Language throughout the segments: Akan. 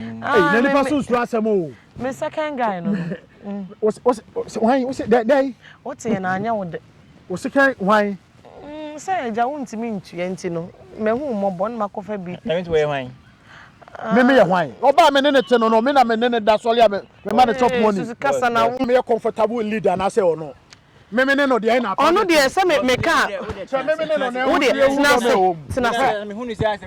Hey, na nipa so nsoro asɛm o. Me second guy no. Wose wose why wose dai dai. Wote yɛ na anya wo de. Wo second why? Mm sɛ agya wo ntimi ntua nti no. Me hu mmɔbɔ na makɔ fa bi. Na nti wo yɛ why? Me me yɛ why? Oba me ne ne te no no me na me ne ne da sɔre a me ma ne chop money. Susu kasa na wo. Me yɛ comfortable leader na sɛ ɔno. Memene no deɛ na apam Ɔno deɛ sɛ me meka a wo deɛ tena ase tena ase.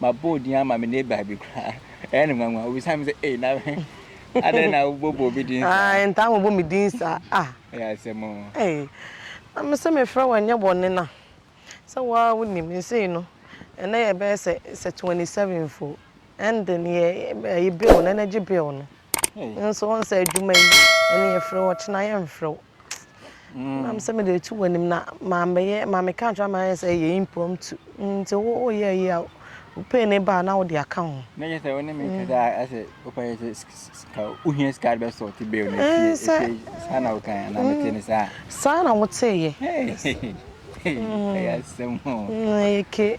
Mabɔ din ama me neighbor bi koraa. Ɛyɛ no nwanwa. Obisa me sɛ, Ei, na adɛn na wobɔbɔ obi din saa? Ae, ntaa mmobɔ me din saa. Ah! Ɛyɛ asɛm o. Ei, na me sɛ mefrɛ wo ɛnyɛ bɔne na sɛ wo ara wonim. Seesei no, ɛnnɛ yɛbɛyɛ sɛ twenty seven mpo. Ɛnde no, yɛ ayi bill no, energy bill no. Wo nso wohu sɛ adwuma yi ɛne yɛfrɛ wo ɔkyena yɛmfrɛ wo mm. nam sɛ mede atu w'anim na mambɛyɛ ma meka nkyerɛ ma ayɛ sɛ ɛyɛ impromptu nti woyɛ yi a wopɛ ne baa na wode aka ho na yɛ sɛ wo ne me kasa mm. asɛ wopɛ yɛ sɛ sika wohia sika de bɛsɔ te bɛɛ no ɛfie saa na woka na mete ne saa saa na woteeɛ ɛyɛ asɛm ɛyɛ ke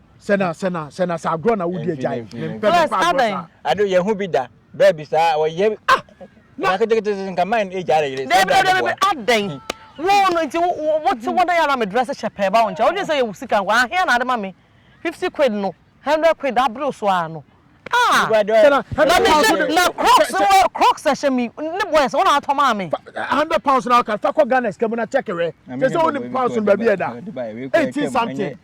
sɛ na sɛ na sɛ na sɛ agorɔ na wodi agya yi ne mpɛ bɛ pa agorɔ saa. ado yɛ ho bi da bɛɛ bi saa ɔyɛ ah na ketekete nka mind age ara yere sɛ bɛɛ bi bɔ adɛn wo no nti wo te wɔn ayɛ ara me dress hyɛ pɛɛ ba wɔn nkyɛn wodwen sɛ yɛ wo sika nko ahia na ade ma me fifty quid no hundred quid abere so ara no ah na me hyɛ na crocs wɔ crocs ɛhyɛ mi ne bɔ ɛsɛ wɔn na atɔ maa me hundred pounds na ɔka fa kɔ ghana sika mu na check wɛ sɛ sɛ wɔn ni pounds no baabi ɛda eighteen something.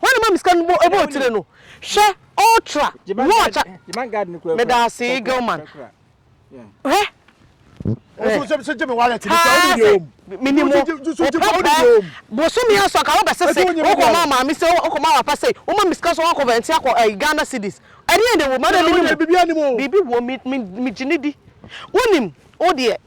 Hwan na ɔma me sika no bɔ ɛbɔɔ tire no hwɛ ultra watch medaasee Gilman hwɛ menim wo wopɛ bosome aso aka wobɛ sese wokɔ ma maame se wokɔ ma wapa se woma me sika so wakɔ vɛnti akɔ eh, Ghana cities ɛdeɛ de wo ma na menim biribi wɔ me gyine di wonim wodeɛ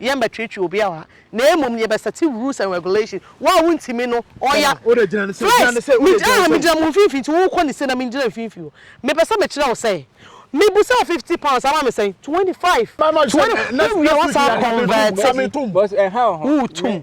yɛmmɛtweetwee obiara wɔ ha, na mmom yɛbɛsɛte rules and regulation, wo a wontumi no, ɔya, first, megyina ha, megyina mo mfimfini nti wokɔ ne se na mengyina mfimfini o, mepɛ sɛ mekyerɛ wo sɛ, mebusa wo fifty pounds ama me sɛn, twenty five, twenty, wowie a woasan akɔnvɛɛte, woretu mu.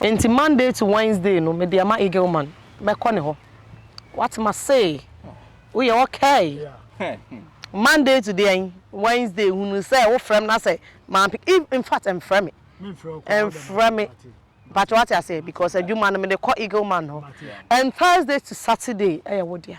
Enti Monday to Wednesday no mede ama Eagleman mɛkɔ ne hɔ. Wate mase? Woyɛ okay? Monday to deɛn? Wednesday hunu sɛ wofrɛ me na sɛ mampik if infact mfrɛ me. Mfrɛ me. Mpakyɛ wate aseɛ because adwuma no mede kɔ Eagleman hɔ and Thursday to Saturday ɛyɛ wo dea.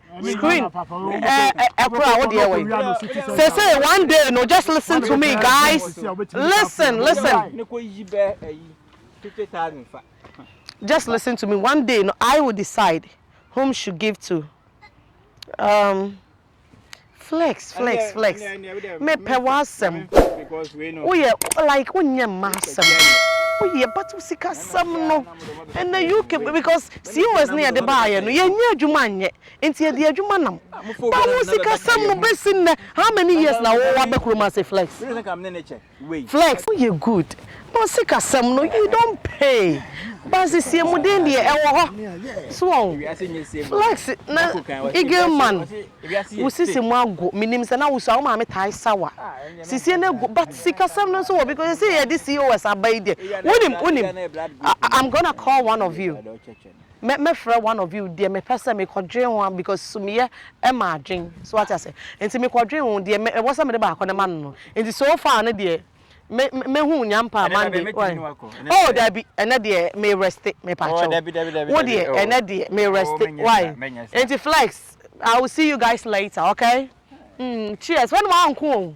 screen ɛkoro a wodeɛ wɔ yi sese one day no just listen to me guys listen listen just listen to me one day no I will decide whom should give to um, Flex flex flex mepɛ w'asɛm woyɛ like wonyɛ mma asɛm woyɛ but wo sika sɛm no ɛnɛ UK because COS ne yɛde baayɛ no yɛnyɛ adwuma nyɛ nti yɛde adwuma nam but wo sika sɛm no bɛsi nnɛ how many years na wowɔ abɛ kurom ase flex. wei. Flex wo yɛ good but sika sɛm no you don pay but nsiesiemuden deɛ ɛwɔ hɔ so wɔ ho flex na eagle man wo sisi mu ago menim sɛ na wo sua wo maame tae sawa sisie no agu but sika sɛm no nso wɔ because sɛsɛ yɛde cos aba yi deɛ wonim wonim I'm gonna call one of you. Mɛ mɛfrɛ one of you deɛ mepɛ sɛ mekɔ dwen ho a because sumiɛ ɛma adwen so wate aseɛ nti mekɔ dwen ho deɛ mɛ ɛwɔ sɛ mede baako no ma no no nti so far no deɛ mɛ mɛ hu nyampa Monday wai oh dabi ɛnɛ deɛ me reste me pa kyɛw wo deɛ ɛnɛ deɛ me reste wai nti flex I will see you guys later okay mm cheers wɛne wa nko o